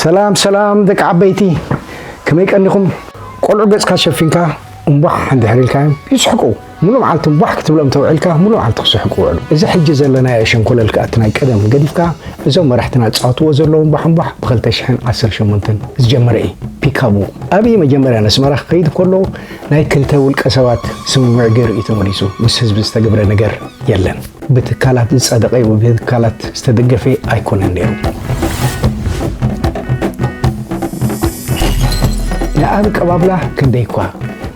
ሰላም ሰላም ደቂ ዓበይቲ ከመይ ቀኒኹም? ቆልዑ ገጽካ ሸፊንካ እምቧሕ እንድሕር ኢልካዮም ይስሕቁ። ሙሉእ መዓልቲ እምቧሕ ክትብሎም ተውዒልካ ሙሉእ መዓልቲ ክስሕቁ ይውዕሉ። እዚ ሕጂ ዘለናዮ ሸንኮለል ከኣ እቲ ናይ ቀደም ገዲፍካ እዞም መራሕትና ዝጻወትዎ ዘለዉ እምቧሕ እምቧሕ ብ ክልተ ሽሕን ዓሰርተ ሸሞንተን ዝጀመረ እዩ። ፒካቡ ኣብይ መጀመርያ ነስመራ ክኸይድ ከሎ ናይ ክልተ ውልቀ ሰባት ስምምዕ ገይሩ እዩ ተመሊሱ። ምስ ህዝቢ ዝተገብረ ነገር የለን። ብትካላት ዝጸደቐ ወይ ብትካላት ዝተደገፈ ኣይኮነን ነይሩ። ንኣቀባብላ ክንደይ'ኳ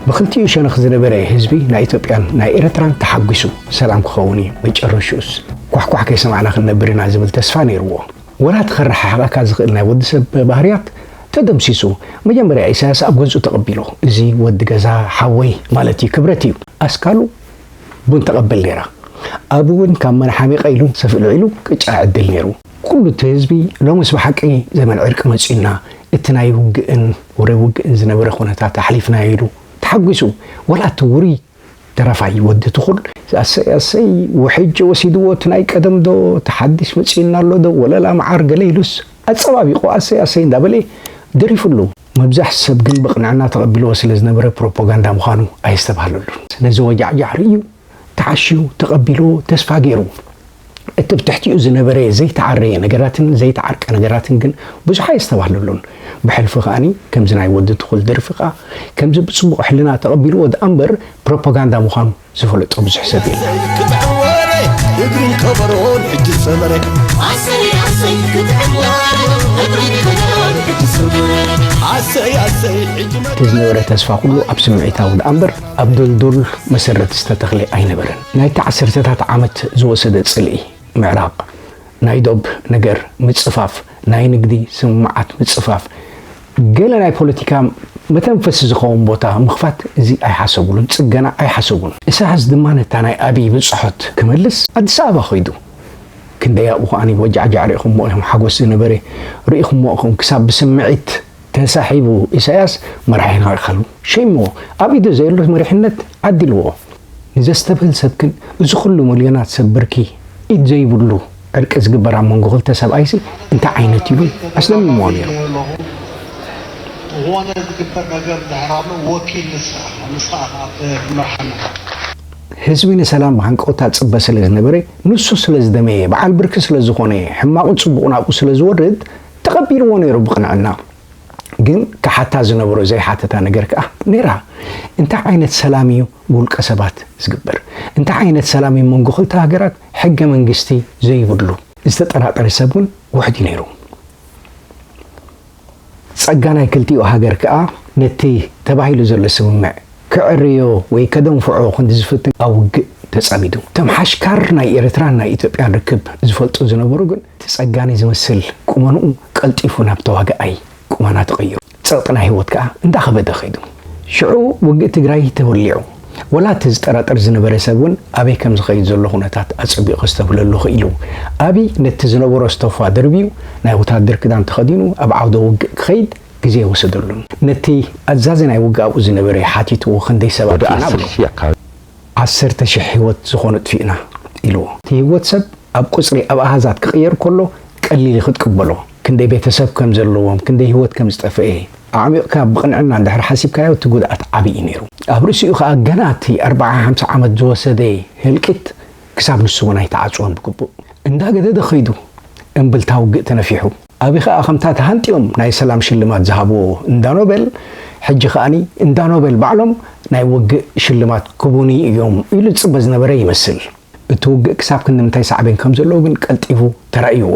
ብክልቲኡ ሸነኽ ዝነበረ ህዝቢ ናይ ኢትዮጵያን ናይ ኤርትራን ተሓጒሱ ሰላም ክኸውን እዩ፣ መጨረሽኡስ ኳሕኳሕ ከይሰማዕና ክንነብር ኢና ዝብል ተስፋ ነይሩዎ። ወራቲ ከረሓሕቐካ ዝኽእል ናይ ወዲ ሰብ ባህርያት ተደምሲሱ። መጀመርያ ኢሳያስ ኣብ ገዝኡ ተቐቢሉ። እዚ ወዲ ገዛ ሓወይ ማለት እዩ፣ ክብረት እዩ። ኣስካሉ። ቡን ተቐበል ነይራ። ኣብኡ እውን ካብ መን ሓሚቐ ኢሉን ሰፍ እልዒሉ ቅጫ ይዕድል ነይሩ። ኩሉ እቲ ህዝቢ ሎምስ ብሓቂ ዘመን ዕርቂ መፂኡና፣ እቲ ናይ ውግእን ወረ ውግእን ዝነበረ ኩነታት ኣሕሊፍናዮ ኢሉ ተሓጒሱ። ዋላ እቲ ውሩይ ደራፋይ ወዲ ትኹል፣ ኣሰይ ኣሰይ ውሕጅ ወሲድዎ እቲ ናይ ቀደም ዶ እቲ ሓዲሽ መፂኡና ኣሎ ዶ ወለላ መዓር ገለ ኢሉስ ኣፀባቢቑ ኣሰይ ኣሰይ እንዳበለ ደሪፉሉ። መብዛሕቱ ሰብ ግን ብቕንዕና ተቐቢልዎ ስለ ዝነበረ ፕሮፖጋንዳ ምዃኑ ኣየስተብሃለሉን። ነዚ ወጃዕጃዕ ርእዩ፣ ተዓሽዩ፣ ተቐቢልዎ፣ ተስፋ ገይሩ። እቲ ብትሕቲኡ ዝነበረ ዘይተዓረየ ነገራትን ዘይተዓርቀ ነገራትን ግን ብዙሕ ኣየስተብሃለሉን። ብሕልፊ ከኣ ከምዚ ናይ ወዲ ትኹል ደርፊ ከኣ ከምዚ ብጽቡቕ ሕልና ተቐቢልዎ ደኣምበር ፕሮፖጋንዳ ምዃኑ ዝፈልጦ ብዙሕ ሰብ የለን። ክትዕ ወረ እግሪ ከበሮ ንሕጂ ሰመረ ኣሰይ ኣሰይ ክትዕ ወረ እግሪ ከበሮ ንሕጂ ሰመረ ኣሰይ ኣሰይ ሕጂ መ እቲ ዝነበረ ተስፋ ኩሉ ኣብ ስምዒታዊ ደኣ እምበር ኣብ ድልዱል መሰረት ዝተተኽለ ኣይነበረን። ናይቲ ዓሰርተታት ዓመት ዝወሰደ ጽልኢ፣ ምዕራቕ፣ ናይ ዶብ ነገር፣ ምጽፋፍ፣ ናይ ንግዲ ስምምዓት ምጽፋፍ፣ ገለ ናይ ፖለቲካ መተንፈሲ ዝኸውን ቦታ ምኽፋት እዚ ኣይሓሰብሉን፣ ጽገና ኣይሓሰቡን። ኢሳያስ ድማ ነታ ናይ ኣቢይ ብጽሖት ክመልስ ኣዲስ ኣበባ ከይዱ። ክንደይ ኣብኡ ከኣ ይወጃዕጃዕ ርኢኹሞ ኢኹም፣ ሓጎስ ዝነበረ ርኢኹሞ ኢኹም፣ ክሳብ ብስምዒት ተሳሒቡ ኢሳያስ መራሒና ኢሉ። ሸይሞ ኣብ ኢዱ ዘየሎ መሪሕነት ዓዲልዎ። ንዘስተብህል ሰብ ግን እዚ ኩሉ ምልዮናት ሰብ ብርኪ ኢድ ዘይብሉ ዕርቂ ዝግበር ኣብ መንጎ ክልተ ሰብኣይሲ እንታይ ዓይነት እዩ ኢሎም ኣስደሚምዎ ነይሩ። ዝኾነ ዝግበር ነገር እንድሕር ኣሎ ወኪል ንስኻ ኢኻ፣ ንስኻ ኢኻ ኣብ መርሓና። ህዝቢ ንሰላም ብሃንቀውታ ዝጽበ ስለ ዝነበረ፣ ንሱ ስለ ዝደመየ፣ በዓል ብርኪ ስለ ዝኾነ፣ ሕማቑን ጽቡቑን ኣብኡ ስለ ዝወርድ ተቐቢልዎ ነይሩ ብቕንዕና። ግን ክሓታ ዝነበሮ ዘይሓተታ ነገር ከኣ ነይራ። እንታይ ዓይነት ሰላም እዩ ብውልቀ ሰባት ዝግበር? እንታይ ዓይነት ሰላም እዩ መንጎ ክልተ ሃገራት ሕገ መንግስቲ ዘይብሉ? ዝተጠራጠረ ሰብ እውን ውሕድ እዩ ነይሩ። ጸጋ ናይ ክልቲኡ ሃገር ከኣ ነቲ ተባሂሉ ዘሎ ስምምዕ ከዕርዮ ወይ ከደንፍዖ ክንዲ ዝፍትን ኣብ ውግእ ተጸሚዱ። እቶም ሓሽካር ናይ ኤርትራን ናይ ኢትዮጵያን ርክብ ዝፈልጡ ዝነበሩ ግን እቲ ጸጋኒ ዝመስል ቁመንኡ ቀልጢፉ ናብ ተዋጋኣይ ቁመና ተቐይሩ። ጸቕጢ ናይ ህይወት ከኣ እንዳኸበደ ከይዱ። ሽዑ ውግእ ትግራይ ተወሊዑ። ወላ እቲ ዝጠራጠር ዝነበረ ሰብ እውን ኣበይ ከም ዝኸይድ ዘሎ ኩነታት ኣጸቢቑ ከስተብህለሉ ክኢሉ። ኣብይ ነቲ ዝነበሮ ስተፋ ደርብዩ ናይ ወታደር ክዳን ተኸዲኑ ኣብ ዓውደ ውግእ ክኸይድ ግዜ ወሰደሉን። ነቲ ኣዛዚ ናይ ውግኣኡ ዝነበረ ሓቲትዎ ክንደይ ሰብ ወደ ኣጥፊእና ዓሰርተ በሎ። ሺህ ኣካባቢ። ዓሰርተ ሽሕ ህይወት ዝኾኑ ኣጥፊእና ኢልዎ። እቲ ህይወት ሰብ ኣብ ቁጽሪ ኣብ ኣሃዛት ክቕየር ከሎ ቀሊል እዩ ክትቅበሎ። ክንደይ ቤተሰብ ከም ዘለዎም ክንደይ ህይወት ከም ዝጠፍኤ ኣዕሚቕካ ብቕንዕና እንድሕር ሓሲብካዮ እቲ ጉድኣት ዓቢ እዩ ነይሩ። ኣብ ርእሲኡ ከኣ ገና እቲ ኣርብዓ ሓምሳ ዓመት ዝወሰደ ህልቂት ክሳብ ንሱ እውን ኣይተዓጽወን ብግቡእ። እንዳገደደ ከይዱ እምብልታ ውግእ ተነፊሑ። ኣብይ ከኣ ከምታ ተሃንጥዮም ናይ ሰላም ሽልማት ዝሃብዎ እንዳ ኖበል ሕጂ ከኣ እንዳ ኖበል ባዕሎም ናይ ውግእ ሽልማት ክቡኒ እዮም ኢሉ ዝጽበ ዝነበረ ይመስል። እቲ ውግእ ክሳብ ክንድምንታይ ሳዕቤን ከም ዘለዎ ግን ቀልጢፉ ተራእይዎ።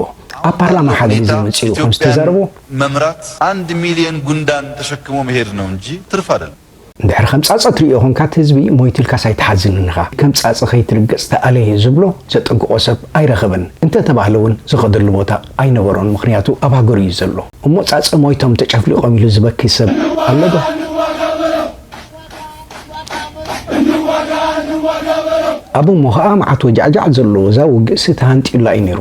ኣብ ኣማኻሪ ፓርላማ ሓደ ግዜ ኦዲተር መጺኡ ከም ኢትዮጵያን ዝተዛረቦ፣ መምራት ኣንድ ሚልዮን ጉንዳን ተሸክሞ መሄድ ነው እንጂ ትርፍ ኣደለም። እንድሕር ከም ጻጸ ትርእዮ ኮንካ እቲ ህዝቢ ሞይቱ ኢልካስ ኣይትሓዝንን ኢኻ። ከም ጻጸ ከይትርገጽ ተኣለየ ዝብሎ ዘጠንቅቆ ሰብ ኣይረኸበን። እንተ ተባህለ እውን ዝኸደሉ ቦታ ኣይነበሮን ምኽንያቱ ኣብ ሃገሩ እዩ ዘሎ። እሞ ጻጸ ሞይቶም ተጨፍሊቆም ኢሉ ዝበኪ ሰብ ኣሎ ዶ? ኣብ እሞ ከኣ መዓት ወጃዕጃዕ ዘለዎ እዛ ውግእሲ ተሃንጥዩላ እዩ ነይሩ።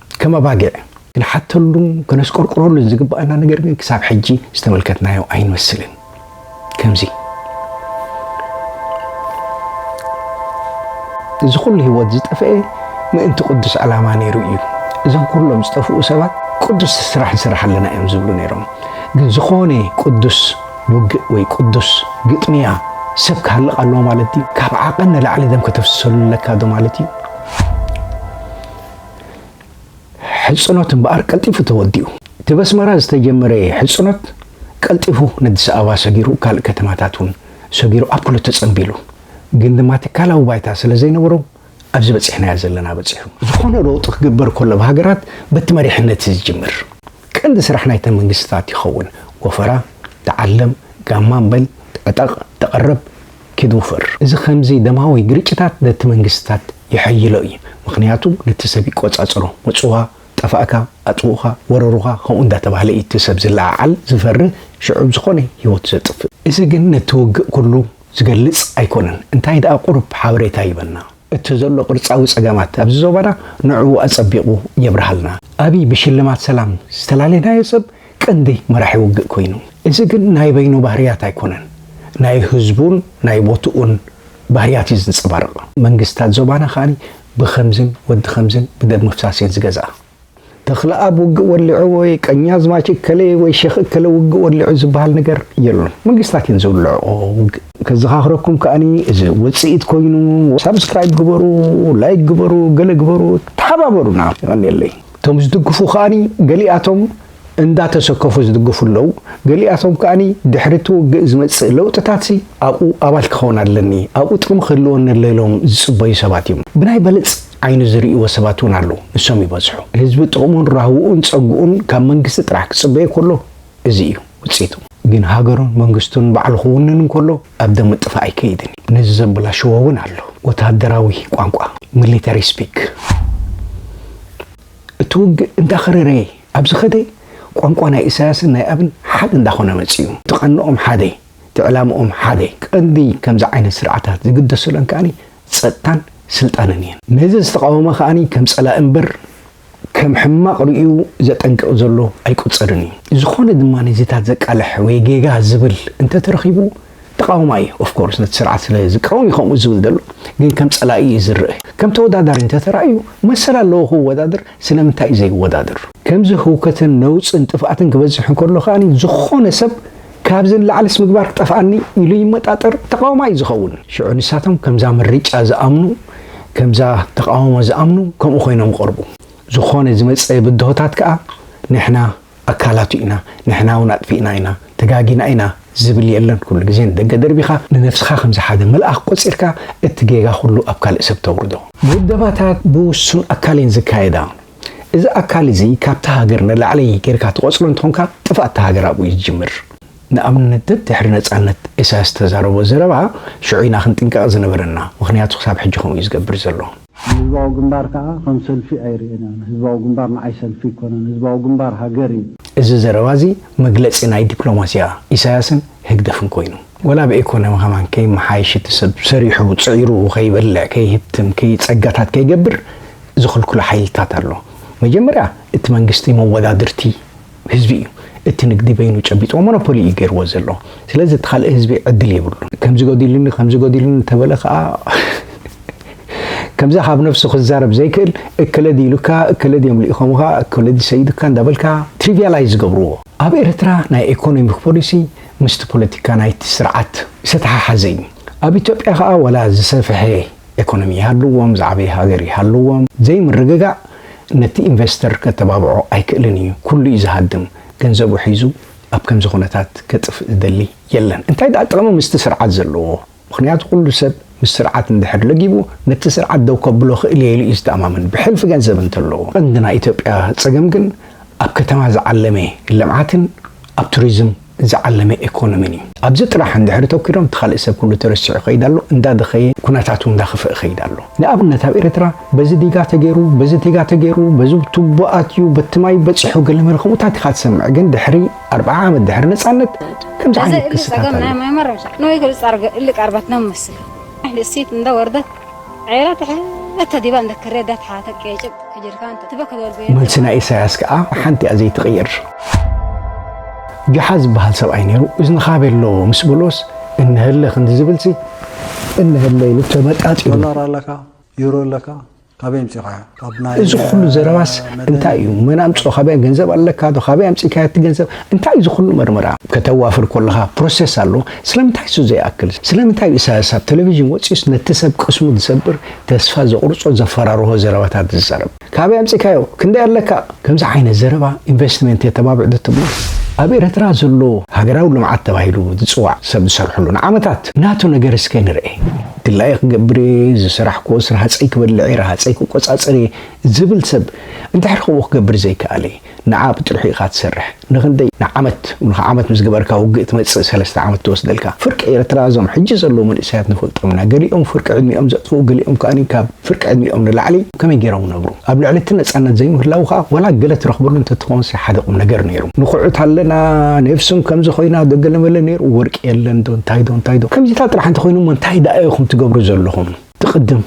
ከም ኣባጊዕ ክንሓተሉን ከነስቆርቁረሉን ዝግባኣና ነገር ግን ክሳብ ሕጂ ዝተመልከትናዮ ኣይንመስልን። ከምዚ እዚ ኩሉ ህይወት ዝጠፍኤ ምእንቲ ቅዱስ ዕላማ ነይሩ እዩ። እዞም ኩሎም ዝጠፍኡ ሰባት ቅዱስ ስራሕ ንስራሕ ኣለና እዮም ዝብሉ ነይሮም። ግን ዝኾነ ቅዱስ ውግእ ወይ ቅዱስ ግጥምያ ሰብ ክሃልቕ ኣለዎ ማለት እዩ? ካብ ዓቐን ንላዕሊ ደም ከተፍስሰሉ ኣለካ ዶ ማለት እዩ? ሕጽኖት እምበኣር ቀልጢፉ ተወዲኡ። እቲ በስመራ ዝተጀመረ ሕጽኖት ቀልጢፉ ነዲስ ኣበባ ሰጊሩ ካልእ ከተማታት እውን ሰጊሩ ኣብ ኩሉ ተጸንቢሉ። ግን ድማ ትካላዊ ባይታ ስለ ዘይነበሮ ኣብዚ በጺሕናዮ ዘለና በጺሑ። ዝኾነ ለውጢ ክግበር ከሎ ኣብ ሃገራት በቲ መሪሕነት እዩ ዝጅምር። ቀንዲ ስራሕ ናይተን መንግስትታት ይኸውን። ወፈራ፣ ተዓለም፣ ጋማ በል፣ ዕጠቕ፣ ተቐረብ፣ ኪድ ውፈር። እዚ ከምዚ ደማዊ ግርጭታት ነቲ መንግስታት የሐይሎ እዩ ምኽንያቱ ነቲ ሰብ ይቆጻጸሮ መጽዋ ጠፋእካ ኣጥፉኡኻ ወረሩኻ ከምኡ እንዳተባህለ እዩ እቲ ሰብ ዝለዓዓል ዝፈሪ ሽዑ ብ ዝኾነ ሂወቱ ዘጥፍእ። እዚ ግን ነቲ ውግእ ኩሉ ዝገልጽ ኣይኮነን እንታይ ደኣ ቁሩብ ሓበሬታ ይበና። እቲ ዘሎ ቅርጻዊ ጸገማት ኣብዚ ዞባና ንዕኡ ኣጸቢቑ የብርሃልና። ኣብይ ብሽልማት ሰላም ዝተላለናዮ ሰብ ቀንዲ መራሒ ውግእ ኮይኑ። እዚ ግን ናይ በይኑ ባህርያት ኣይኮነን ናይ ህዝቡን ናይ ቦትኡን ባህርያት እዩ ዝንጸባርቕ። መንግስታት ዞባና ከኣ ብኸምዝን ወዲ ከምዝን ብደም ምፍሳስ እየን ዝገዝኣ። ተኽለኣብ ውግእ ወሊዑ ወይ ቀኛዝማች እከለ ወይ ሼኽ እከለ ውግእ ወሊዑ ዝበሃል ነገር የሉን። መንግስታት እየን ዝውልዕኦ ውግእ። ከዘኻኽረኩም ከኣኒ እዚ ውጽኢት ኮይኑ ሳብስክራይብ ግበሩ፣ ላይክ ግበሩ፣ ገለ ግበሩ፣ ተሓባበሩና። የቐንየለይ። እቶም ዝድግፉ ከኣኒ ገሊኣቶም እንዳተሰከፉ ዝድግፉ ኣለው፣ ገሊኣቶም ከኣ ድሕሪ እቲ ውግእ ዝመጽእ ለውጥታትሲ ኣብኡ ኣባል ክኸውን ኣለኒ፣ ኣብኡ ጥቕሚ ክህልወኒ ኣሎ ኢሎም ዝጽበዩ ሰባት እዮም። ብናይ በለጽ ዓይኒ ዝርእይዎ ሰባት እውን ኣለው፣ ንሶም ይበዝሑ። ህዝቢ ጥቕሙን ራህውኡን ጸግኡን ካብ መንግስቲ ጥራሕ ክጽበዮ ከሎ እዚ እዩ ውጽኢቱ። ግን ሃገሩን መንግስቱን ባዕሉ ክውንን እንከሎ ኣብ ደም ምጥፋእ ኣይከይድን እዩ። ነዚ ዘበላሽዎ እውን ኣሎ፣ ወተሃደራዊ ቋንቋ፣ Military Speak። እቲ ውግእ እንዳኸረረ ኣብ ዝኸደ፣ ቋንቋ ናይ ኢሳያስን ናይ ኣብን ሓደ እንዳኾነ መጺኡ። እቲ ቀንኦም ሓደ፣ እቲ ዕላምኦም ሓደ፣ ቀንዲ ከምዚ ዓይነት ስርዓታት ዝግደሰለን ከኣ ጸጥታን ስልጣንን እየን። ነዚ ዝተቓወመ ከኣ ከም ጸላኢ እምበር ከም ሕማቕ ርእዩ ዘጠንቅቕ ዘሎ ኣይቁጸርን እዩ። ዝኾነ ድማ ነዚታት ዘቃልሕ ወይ ጌጋ ዝብል እንተተረኺቡ፣ ተቓዋማይ እዩ of course ነቲ ስርዓት ስለ ዝቃወም እዩ ከምኡ ዝብል ዘሎ ግን ከም ጸላኢ እዩ ዝርእ ከም ተወዳዳሪ እንተ ተራእዩ መሰል ኣለዎ ክወዳደር ስለምንታይ እዩ ዘይወዳደር? ከምዚ ህውከትን ነውጽን ጥፍኣትን ክበዝሕ እንከሎ ከኣ ዝኾነ ሰብ ካብዚ ንላዕልስ ምግባር ክጠፍኣኒ ኢሉ ይመጣጠር ተቓዋማይ እዩ ዝኸውን። ሽዑ ንሳቶም ከምዛ ምርጫ ዝኣምኑ ከምዛ ተቓውሞ ዝኣምኑ ከምኡ ኮይኖም ይቐርቡ። ዝኾነ ዝመጸ ብድሆታት ከኣ ንሕና ኣካላቱ ኢና ንሕና ውን ኣጥፊእና ኢና ተጋጊና ኢና ዝብል የለን ኩሉ ግዜ ንደገ ደርቢኻ ንነብስኻ ከምዚ ሓደ መልኣኽ ቆጺርካ እቲ ጌጋ ኩሉ ኣብ ካልእ ሰብ ተውርዶ። ውደባታት ብውሱን ኣካል እየን ዝካየዳ እዚ ኣካል እዚ ካብታ ሃገር ንላዕሊ ጌርካ ትቆጽሮ እንተኾንካ ጥፍኣት እታ ሃገር ኣብኡ እዩ ዝጅምር። ንኣብነት ደድሕሪ ነጻነት ኢሳያስ ዝተዛረቦ ዘረባ ሽዑ ኢና ክንጥንቀቕ ዝነበረና ምኽንያቱ ክሳብ ሕጂ ከምኡ እዩ ዝገብር ዘሎ። ንህዝባዊ ግንባር ከኣ ከም ሰልፊ ኣይርእዮናን። ህዝባዊ ግንባር ንዓይ ሰልፊ ኣይኮነን። ህዝባዊ ግንባር ሃገር እዩ። እዚ ዘረባ እዚ መግለጺ ናይ ዲፕሎማሲያ ኢሳያስን ህግደፍን ኮይኑ። ወላ ብ ኤኮኖሚ ከማን ከይመሓየሽ እቲ ሰብ ሰሪሑ ጽዒሩ ከይበልዕ ከይህብትም ከይ ጸጋታት ከይገብር ዝኽልክሎ ሓይልታት ኣሎ። መጀመርያ እቲ መንግስቲ መወዳድርቲ። ህዝቢ እዩ እቲ ንግዲ በይኑ ጨቢጥዎ ሞኖፖሊ እዩ ገይርዎ ዘሎ ስለዚ እቲ ካልእ ህዝቢ ዕድል የብሉን። ከምዚ ጎዲሉኒ ከምዚ ጎዲሉኒ እንተበለ ከኣ ከምዛ ካብ ነብሱ ክዛረብ ዘይክእል እከለ ድዩ ኢሉካ እከለ ድዮም ልኢኾምኻ እከለ ድዩ ሰይዱካ እንዳበልካ ትሪቪያላይዝ ዝገብርዎ። ኣብ ኤርትራ ናይ ኤኮኖሚክ ፖሊሲ ምስቲ ፖለቲካ ናይቲ ስርዓት ዝተተሓሓዘ እዩ። ኣብ ኢትዮጵያ ከኣ ዋላ ዝሰፈሐ ኤኮኖሚ ይሃልዎም ዝዓበየ ሃገር ይሃልዎም ዘይምርግጋእ ነቲ ኢንቨስተር ከተባብዖ ኣይክእልን እዩ ኩሉ እዩ ዝሃድም ገንዘቡ ሒዙ ኣብ ከምዚ ኩነታት ከጥፍእ ዝደሊ የለን እንታይ ድኣ ጥቅሚ ምስቲ ስርዓት ዘለዎ ምክንያቱ ኩሉ ሰብ ምስ ስርዓት እንድሕር ለጊቡ ነቲ ስርዓት ደው ከብሎ ክእል እየ ኢሉ እዩ ዝተኣማመን ብሕልፊ ገንዘብ እንተለዎ ቀንዲ ናይ ኢትዮጵያ ጸገም ግን ኣብ ከተማ ዝዓለመ ልምዓትን ኣብ ቱሪዝም ዝዓለመ ኤኮኖሚን እዩ። ኣብዚ ጥራሕ እንድሕር እተኲሮም እቲ ካልእ ሰብ ኩሉ ተረሲዑ ይኸይድ ኣሎ፣ እንዳደኸየ ኩነታቱ እንዳኽፍእ ይኸይድ ኣሎ። ንኣብነት ኣብ ኤርትራ በዚ ዲጋ ተገይሩ፣ በዚ ዲጋ ተገይሩ፣ በዚ ቱቦ ኣትዩ፣ በቲ ማይ በጺሑ ገለመለ ከምኡታት ኢኻ ትሰምዕ። ግን ድሕሪ ኣርብዓ ዓመት ድሕሪ ነጻነት ከምዚ ዓይነት ክስታት ኣሎ። ዔራ ትሕት ተዲባ እንተ ክሬ ዳት ሓተ ቄጭብ ጅርካን ተ ትበ ክዶል ቤ። መልሲ ናይ ኢሳያስ ከኣ ብሓንቲ እያ ዘይትቕይር። ጁሓ ዝበሃል ሰብኣይ ነይሩ፣ እዝንኻ ቤሎ ምስ በሎስ እነሀለ ክንዲ ዝብልሲ እነሀለ ኢሉ ተመጣጢሩ። ዶላር ኣለካ ዩሮ ኣለካ ካበይ ኣምጺኻዮ። እዚ ኩሉ ዘረባስ እንታይ እዩ መን ኣምጽኦ ካበይ ገንዘብ ኣለካ ዶ ካበይ ኣምጺእካዮ እቲ ገንዘብ እንታይ እዩ ዝኩሉ መርመራ ከተዋፍር ኮለካ ፕሮሰስ ኣሎ ስለምንታይ እሱ ዘይኣክል ስለምንታይ እዩ ኢሳያስ ኣብ ተለቪዥን ወጺኡስ ነቲ ሰብ ቅስሙ ዝሰብር ተስፋ ዘቁርጾ ዘፈራርሆ ዘረባታት ዝዛረብ ካበይ ኣምጺእካዮ ክንደይ ኣለካ ከምዚ ዓይነት ዘረባ ኢንቨስትመንት የተባብዕ ዶ ትብሉ? ኣብ ኤረትራ ዘሎ ሃገራዊ ልምዓት ተባሂሉ ዝጽዋዕ ሰብ ዝሰርሐሉ ንዓመታት ናቱ ነገር እስከ ንርኤ። ድላየይ ክገብር እየ ዝሰራሕክዎስ ረሃጸይ ክበልዕ እየ ረሃጸይ ክቆጻጸር እየ ዝብል ሰብ እንድሕር ከምኡ ክገብር ዘይከኣለ ንዓ ብጥርሑ ኢኻ ትሰርሕ። ንክንደይ ንዓመት ንካ ዓመት ምስ ገበርካ ውግእ ትመጽእ ሰለስተ ዓመት ትወስደልካ ፍርቂ ኤርትራ እዞም ሕጂ ዘለዉ መንእሰያት ንፈልጦም ኢና ገሊኦም ፍርቂ ዕድሚኦም ዘጥፍኡ ገሊኦም ከኣ ካብ ፍርቂ ዕድሚኦም ንላዕሊ ከመይ ጌሮም ነብሩ ኣብ ልዕሊ እቲ ነጻነት ዘይምህላዉ ከኣ ዋላ ገለ ትረክበሉ እንተትከውንሲ ሓደ ቁምነገር ኔሩ ንኩዑት ኣለና ኔፍስም ከምዚ ኮይና ዶ ገለመለ ኔሩ ወርቂ የለን ዶ እንታይ ዶ እንታይ ዶ ከምዚታት ጥራሕ እንተኮይኑ እሞ እንታይ ደኣ ኢኩም ትገብሩ ዘለኩም እቲ ቅድም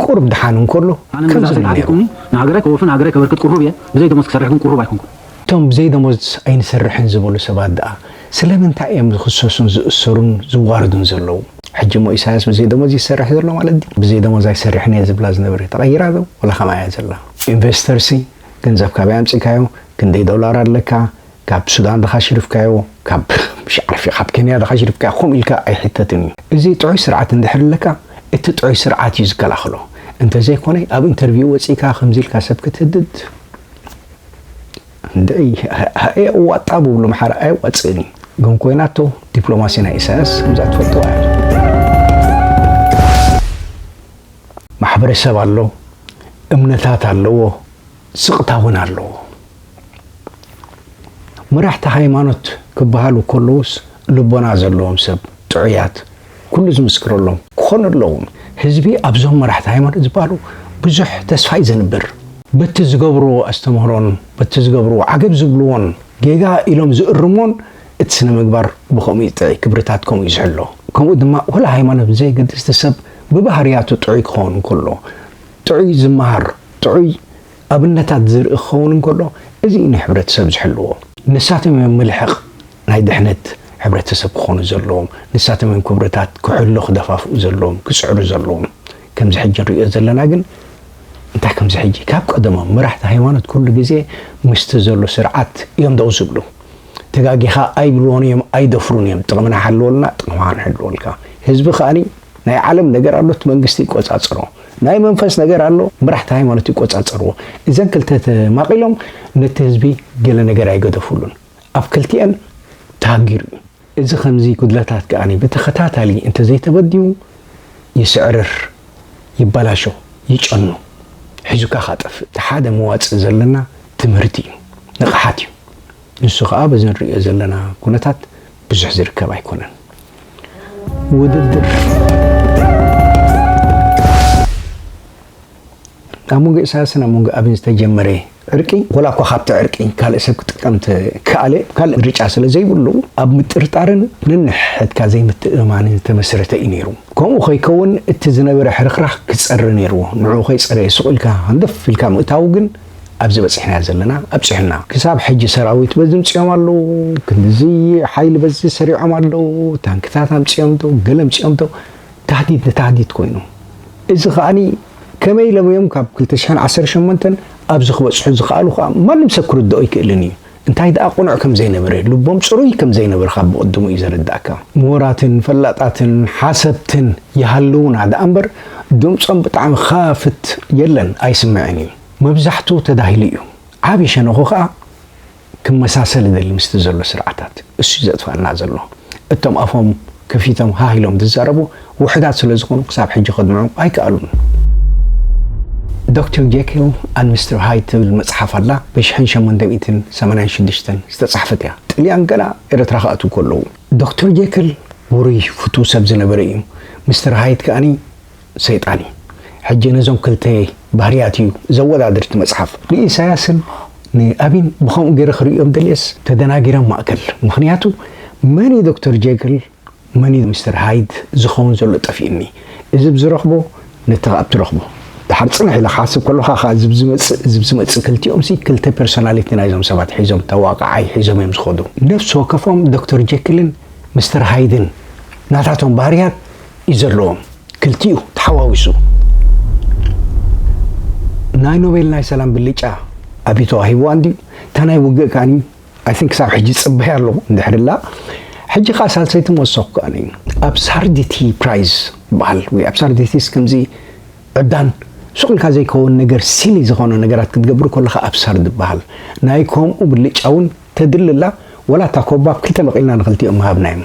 ቁሩብ ድሓን እንከሎ ከምዚ ኢሉ ነይሩ። ኣነ ንመንእሰያት ኣርኢኹምኒ፣ ንሃገረይ ከወፍን ሃገረይ ከበርክት ቅሩብ እየ፣ ብዘይ ደሞዝ ክሰርሕ ግን ቅሩብ ኣይኮንኩን። እቶም ብዘይ ደሞዝ ኣይንሰርሕን ዝበሉ ሰባት ደኣ ስለምንታይ እዮም ዝኽሰሱን ዝእሰሩን ዝዋረዱን ዘለዉ? ሕጂ እሞ ኢሳያስ ብዘይ ደሞዝ እዩ ዝሰርሕ ዘሎ ማለት ድዩ? ብዘይ ደሞዝ ኣይሰርሕን እየ ዝብላ ዝነበረ ተቐይራ ዶ ወላ ከምኣ እያ ዘላ? ኢንቨስተርሲ ገንዘብ ካበይ ኣምጺእካዮ? ክንደይ ዶላር ኣለካ? ካብ ሱዳን ድኻ ሽርፍካዮ ካብ ሽዓርፊ ካብ ከንያ ድኻ ሽርፍካዮ ከምኡ ኢልካ ኣይሕተትን እዩ እዚ ጥዑይ ስርዓት እንድሕር ኣለካ እቲ ጥዑይ ስርዓት እዩ ዝከላኸሎ እንተዘይ ኮነ ኣብ ኢንተርቪው ወጺእካ ከምዚ ኢልካ ሰብ ክትህድድ እንድዒ ኣየዋጣ ብብሉ ኣምሓራ ኣየዋጽእን እዩ ግን ኮይናቶ ዲፕሎማሲ ናይ ኢሳያስ ከምዛ ትፈልጥዋ እያ ማሕበረሰብ ኣሎ እምነታት ኣለዎ ስቕታ እውን ኣለዎ። መራሕቲ ሃይማኖት ክበሃሉ ከለዉስ ልቦና ዘለዎም ሰብ፣ ጥዑያት፣ ኩሉ ዝምስክረሎም ክኾኑ ኣለዎም። ህዝቢ ኣብዞም መራሕቲ ሃይማኖት ዝበሃሉ ብዙሕ ተስፋ እዩ ዘንብር። በቲ ዝገብርዎ ኣስተምህሮን በቲ ዝገብርዎ ዓገብ ዝብልዎን ጌጋ ኢሎም ዝእርምዎን እቲ ስነ ምግባር ብኸምኡ እዩ ጥዕይ፣ ክብርታት ከምኡ እዩ ዝሕሎ። ከምኡ ድማ ወላ ሃይማኖት ብዘየገድስ እቲ ሰብ ብባህርያቱ ጥዑይ ክኸውን ከሎ፣ ጥዑይ ዝመሃር፣ ጥዑይ ኣብነታት ዝርኢ ክኸውን እንከሎ፣ እዚ እዩ ንሕብረተሰብ ዝሕልዎ። ንሳቶም እዮም ምልሕቕ ናይ ድሕነት ሕብረተሰብ ክኾኑ ዘለዎም፣ ንሳቶም እዮም ክብርታት ክሕሎ ክደፋፍኡ ዘለዎም፣ ክጽዕሩ ዘለዎም። ከምዚ ሕጂ ንርእዮ ዘለና ግን እንታይ ከምዚ ሕጂ ካብ ቀደሞም መራሕቲ ሃይማኖት ኩሉ ግዜ ምስቲ ዘሎ ስርዓት እዮም ደው ዝብሉ። ተጋጊኻ ኣይብልዎን እዮም ኣይደፍሩን እዮም ጥቕምና ሓልወልና ጥቕምኻ ንሕልወልካ። ህዝቢ ከኣ ናይ ዓለም ነገር ኣሎ እቲ መንግስቲ ይቆጻጸሮ። ናይ መንፈስ ነገር ኣሎ መራሕቲ ሃይማኖት ይቆጻጸርዎ እዘን ክልተ ተማቂሎም ነቲ ህዝቢ ገለ ነገር ኣይገደፍሉን ኣብ ክልቲኤን ተሃጊሩ እዩ። እዚ ከምዚ ጉድለታት ከኣ ብተኸታታሊ እንተዘይተበዲሁ ይስዕርር ይበላሾ ይጨኑ ሒዙካ ካጠፍእ። እቲ ሓደ መዋጽእ ዘለና ትምህርቲ እዩ ንቕሓት እዩ። ንሱ ከኣ በዚ ንርእዮ ዘለና ኩነታት ብዙሕ ዝርከብ ኣይኮነን። ውድድር ኣብ መንጎ ኢሳያስን ኣብ መንጎ ኣብን ዝተጀመረ ዕርቂ ወላ እኳ ካብቲ ዕርቂ ካልእ ሰብ ክጥቀም ተከኣለ ካልእ ምርጫ ስለ ዘይብሉ ኣብ ምጥርጣርን ነንሕድሕድካ ዘይምትእምማንን ዝተመስረተ እዩ ነይሩ። ከምኡ ከይከውን እቲ ዝነበረ ሕርኽራኽ ክጸሪ ነይርዎ። ንዕኡ ከይጸረየ ሱቕ ኢልካ ሃንደፍ ኢልካ ምእታዉ ግን ኣብዚ በጺሕናዮ ዘለና ኣብጽሑና ክሳብ ሕጂ ሰራዊት በዚ ኣምጺኦም ኣለዉ ክንድዚ ሓይሊ በዚ ሰሪዖም ኣለዉ ታንክታት ኣምጺኦም ዶ ገለ ኣምጺኦም ዶ ታህዲድ ንታህዲድ ኮይኑ እዚ ከኣኒ ከመይ ኢሎም እዮም ካብ 218 ኣብዚ ክበጽሑ ዝኸኣሉ ከዓ ማንም ሰብ ክርድኦ ኣይክእልን እዩ እንታይ ደኣ ቅኑዕ ከም ዘይነበረ ልቦም ፅሩይ ከም ዘይነበረ ካብ ብቕድሙ እዩ ዘረዳእካ ምሁራትን ፈላጣትን ሓሰብትን ይሃልውና ደኣ እምበር ድምፆም ብጣዕሚ ኻፍት የለን ኣይስምዕን እዩ መብዛሕቱ ተዳሂሉ እዩ ዓቢ ሸነኹ ከኣ ክመሳሰል እደሊ ምስቲ ዘሎ ስርዓታት እሱ እዩ ዘጥፋኣና ዘሎ እቶም ኣፎም ከፊቶም ሃህ ኢሎም ዝዛረቡ ውሕዳት ስለ ዝኾኑ ክሳብ ሕጂ ከድምዑ ኣይከኣሉን። ዶክተር ጄኪል ኣንድ ሚስተር ሃይድ ትብል መጽሓፍ ኣላ ብ ሽሕን ሸሞንተ ሚእትን ሰማንያን ሽዱሽተን ዝተጻሕፈት እያ ጥልያን ገና ኤረትራ ክኣትው ከለዉ። ዶክተር ጄክል ውሩይ ፍቱው ሰብ ዝነበረ እዩ ሚስተር ሃይድ ከኣ ሰይጣን እዩ ሕጂ ነዞም ክልተ ባህርያት እዩ ዘወዳድር እቲ መጽሓፍ። ንኢሳያስን ንኣብይን ብከምኡ ገይረ ክርእዮም ደልየስ ተደናጊረ ማእከል ምኽንያቱ መን እዩ ዶክተር ጀክል መን እዩ ሚስተር ሃይድ ዝኸውን ዘሎ ጠፊኡኒ እዚ ብ ዝረኽቦ ነቲ ኣብ ትረኽቦ ደሓር ጽንሕ ኢለ ክሓስብ ከሎኻ ከኣ እዚ ብ ዝመጽእ እዚ ብ ዝመጽእ ክልቲኦምሲ ክልተ ፐርሶናሊቲ ናይዞም ሰባት ሒዞም ተዋቃዓይ ሒዞም እዮም ዝኸዱ ነፍሲ ወከፎም ዶክተር ጀክልን ሚስተር ሃይድን ናታቶም ባህርያት እዩ ዘለዎም ክልቲኡ ተሓዋዊሱ ናይ ኖቤል ናይ ሰላም ብልጫ ኣብዩ ተዋሂብዋ እንድዩ እታ ናይ ውግእ ከኣ ኣይ ቲንክ ክሳብ ሕጂ ዝፅበያ ኣሎ እንድሕርላ ሕጂ ከዓ ሳልሰይቲ መወሰኩ ከኣ ኣብ ሳርዲቲ ፕራይዝ ይበሃል ወይ ኣብ ሳርዲቲስ ከምዚ ዕብዳን ሱቅ ኢልካ ዘይከውን ነገር ሲሊ ዝኾነ ነገራት ክትገብር ከለካ ኣብ ሳርድ ይበሃል ናይ ከምኡ ብልጫ እውን ተድልላ ወላ እታ ኮባ ክልተ መቂልና ንክልቲኦም ሃብናዮም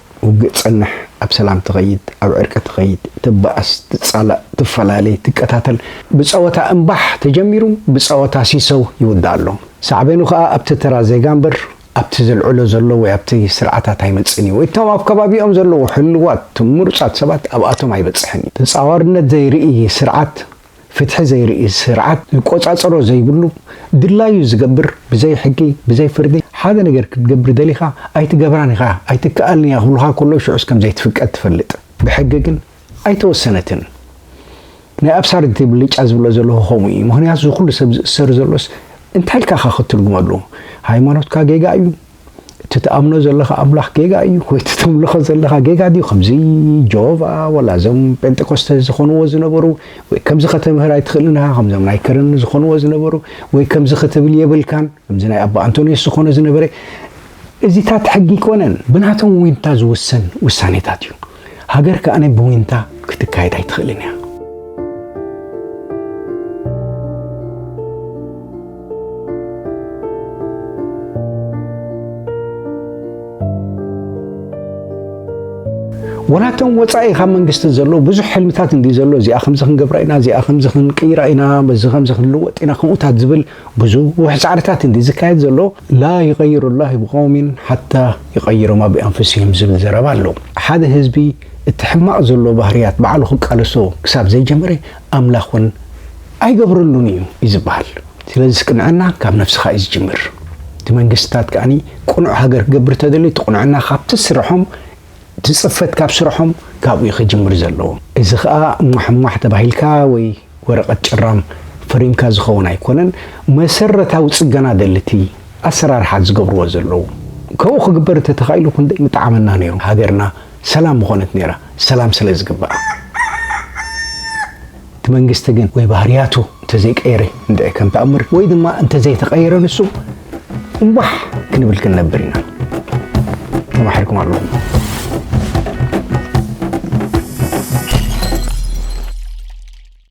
ውግእ ትጸንሕ፣ ኣብ ሰላም ትኸይድ፣ ኣብ ዕርቂ ትኸይድ፣ ትባኣስ፣ ትጻላእ፣ ትፈላለይ፣ ትቀታተል፣ ብጸወታ እምባሕ ተጀሚሩ ብጸወታ ሲሰው ይውዳእ ኣሎ። ሳዕቤኑ ከኣ ኣብቲ ተራ ዜጋ እምበር ኣብቲ ዘልዕሎ ዘሎ ወይ ኣብቲ ስርዓታት ኣይመጽእን እዩ፣ ወይ እቶም ኣብ ከባቢኦም ዘለዉ ሕልዋት ምሩጻት ሰባት ኣብኣቶም ኣይበጽሕን እዩ። ተጻዋርነት ዘይርኢ ስርዓት፣ ፍትሒ ዘይርኢ ስርዓት ዝቆጻጸሮ ዘይብሉ ድላዩ ዝገብር ብዘይ ሕጊ ብዘይ ፍርዲ ሓደ ነገር ክትገብር ደሊኻ ኣይትገብራን ኢኻ ኣይትከኣልን ኢያ ክብሉኻ ከለዉ ሽዑስ ከም ዘይትፍቀድ ትፈልጥ ብሕጊ ግን ኣይተወሰነትን ናይ ኣብሳርድቲ ብልጫ ዝብሎ ዘለኹ ከምኡ ኢዩ ምኽንያቱ እዚ ኩሉ ሰብ ዝእሰር ዘሎስ እንታይ ኢልካ ኢኻ ክትርጉመሉ ሃይማኖትካ ጌጋ ኢዩ እቲ ትኣምኖ ዘለኻ ኣምላኽ ጌጋ እዩ ወይ እቲ ተምልኾ ዘለኻ ጌጋ ድዩ ከምዚ ጆቫ ወላ እዞም ጴንጠቆስተ ዝኾንዎ ዝነበሩ ወይ ከምዚ ከተምህር ኣይትኽእልን ኢኻ ከምዞም ናይ ከረን ዝኾንዎ ዝነበሩ ወይ ከምዚ ክትብል የብልካን ከምዚ ናይ ኣባ ኣንቶንዮስ ዝኾነ ዝነበረ እዚታት ሕጊ ኣይኮነን ብናቶም ዊንታ ዝውሰን ውሳኔታት እዩ ሃገር ከኣ ብዊንታ ክትካየድ ኣይትኽእልን እያ። ወላ እቶም ወፃኢ ካብ መንግስቲ ዘለዉ ብዙሕ ሕልምታት እንዲ ዘሎ እዚኣ ከምዚ ክንገብራ ኢና እዚኣ ከምዚ ክንቅይራ ኢና በዚ ከምዚ ክንልወጥ ኢና ከምኡታት ዝብል ብዙሕ ጻዕርታት እንድዩ ዝካየድ ዘሎ ላ ይቀይሩ ላሂ ብቀውሚን ሓታ ይቀይሮማ ብኣንፍሲሂም ዝብል ዘረባ ኣሎ ሓደ ህዝቢ እቲ ሕማቅ ዘሎ ባህርያት ባዕሉ ክቃለሶ ክሳብ ዘይጀመረ ኣምላክ ውን ኣይገብረሉን እዩ እዩ ዝብሃል ስለዝስ ቅንዕና ካብ ነፍስካ እዩ ዝጅምር እቲ መንግስትታት ከኣ ቅኑዕ ሃገር ክገብር ተደልዩ እቲ ቅኑዕና ካብቲ ስርሖም እቲ ጽፈት ካብ ስርሖም ካብኡ እዩ ክጅምር ዘለዎ እዚ ከኣ ሟሕሟሕ ተባሂልካ ወይ ወረቐት ጭራም ፈሪምካ ዝኸውን ኣይኮነን መሰረታዊ ጽገና ደልቲ ኣሰራርሓ ዝገብርዎ ዘለዉ ከምኡ ክግበር እተተኻኢሉ ክንደይ ምጠዓመና ነይሩ ሃገርና ሰላም ምኾነት ነይራ ሰላም ስለ ዝግብኣ እቲ መንግስቲ ግን ወይ ባህርያቱ እንተዘይቀየረ እንድዒ ከም ተኣምር ወይ ድማ እንተዘይተቐየረ ንሱ እምባሕ ክንብል ክንነብር ኢና ተማሒርኩም ኣለኹም